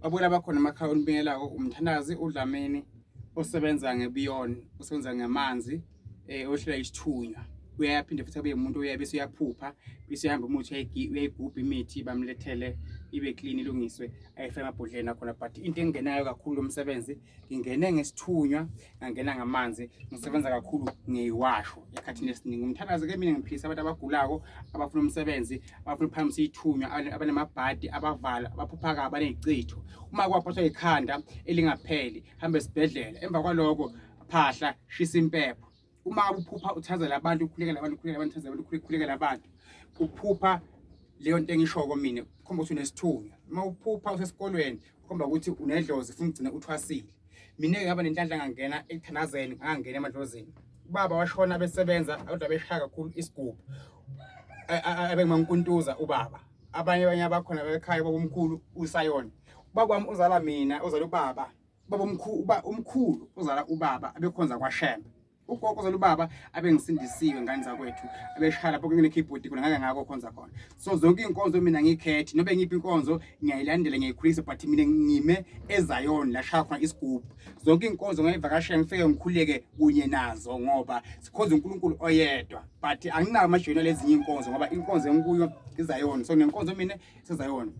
Babona bakhona amakhaya olibingelako umthandazi uDlamini osebenza ngebiyon osebenza ngamanzi eh ohlela isithunywa uyaphinde futhi abe umuntu uyabe bese uyaphupha bese uhamba umuthi uyayigubha imithi bamlethele ibe clean ilungiswe ayifake amabhodleni akhona but into engenayo kakhulu lomsebenzi ngingene ngesithunywa angena ngamanzi ngisebenza kakhulu ngeyiwasho ekhathini esiningi umthandazo ke mina ngiphilisa abantu abagulako abafuna umsebenzi abafuna ukuphakamisa ithunywa abanamabhadi abavala abaphupha kabi abaneyicitho uma kwaphathwa ikhanda elingapheli hambe esibhedlela emva kwaloko phahla shisa impepho uma uphupha uthazela abantu ukhulekela abantu ukhulekela abantu uthazela abantu ukhulekela abantu uphupha leyo nto engishoko mina khomba ukuthi unesithunywa uma uphupha usesikolweni Komba ukuthi unedlozi funa ugcina uthwasile. Mina ngaba nenhlanhla ngangena ekuthanazeni ngangena emadlozini. Ubaba washona besebenza kodwa beshaya kakhulu isigubhu. Abengimankuntuza ubaba. Abanye abanye abakhona bekhaya babomkhulu usayona. Ubaba wami uzala mina uzala ubaba. Baba umkhulu umkhulu uzala ubaba abekhonza kwaShembe. ugogo zolubaba abengisindisiwe ngane zakwethu abeshaya lapho kungene keyboard khona ngake ngako khonza khona so zonke inkonzo mina ngikhethi nobe ngiphi inkonzo ngiyayilandela ngiyikhulisa but mina ngime ezayoni la shaya khona isigubu zonke inkonzo ngayivakashela ngifike ngikhuleke kunye nazo ngoba sikhonza uNkulunkulu oyedwa but anginawo amajoni lezinye inkonzo ngoba inkonzo enkuyo izayoni so nenkonzo mina sezayoni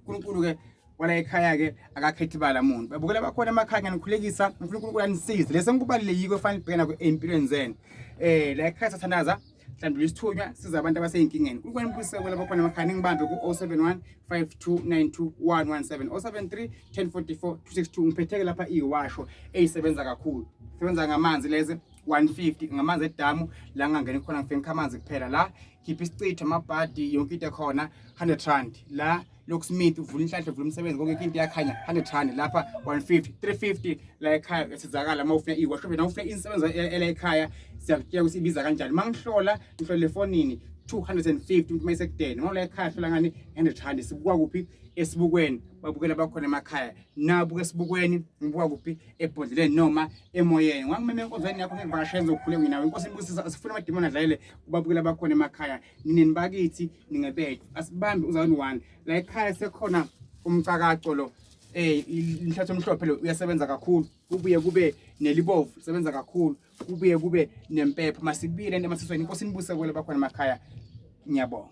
uNkulunkulu ke wala ekhaya-ke akakhethi bala muntu babukela bakhona emakhaya ngiyanikhulekisa ngifuna unkulunkulu anisize lesi engikubalulekiko efanele kubhekana ey'mpilweni zenu um la ekhaya sathandaza hlandula isithunywa siza abantu abasey'nkingeni unkulunkulu anibuyisewela bakhona emakhaya ningibambe ku-071 5292 117 073 1044 262 ngiphetheke lapha iyiwasho eyisebenza kakhulu sebenza ngamanzi lezi 150 ngamanzi edamu la ngangeni khona ngifike ngikha amanzi kuphela la khipha isichitho amabhadi yonke into ekhona 100 rand la locksmith uvula inhlanhla uvula umsebenzi konke into iyakhanya 100 rand lapha 150 350 la ekhaya esizakala uma ufuna iwasho bena ufuna insebenzo ela ekhaya siyakutshela ukuthi ibiza kanjani mangihlola ngihlola efonini 250 umuntu mayisekudeni ngoba la ekhaya hlola ngani 100 rand sibuka kuphi esibukweni babukela bakhona emakhaya nabuka esibukweni ngibuka kuphi ebhodleleni noma emoyeni ngangimeme enkonzweni yakho ngekuvakashela ngizokhule nginawe inkosi ibusisa asifuna amadimoni adlalele kubabukela bakhona emakhaya nini bakithi ningebethu asibambe uzawuni one la ekhaya sekhona umcakaco lo eh inhlathi omhlophe lo uyasebenza kakhulu kubuye kube nelibovu sebenza kakhulu kubuye kube nempepho masibile emasisweni inkosi nibuse kwele bakhona emakhaya ngiyabonga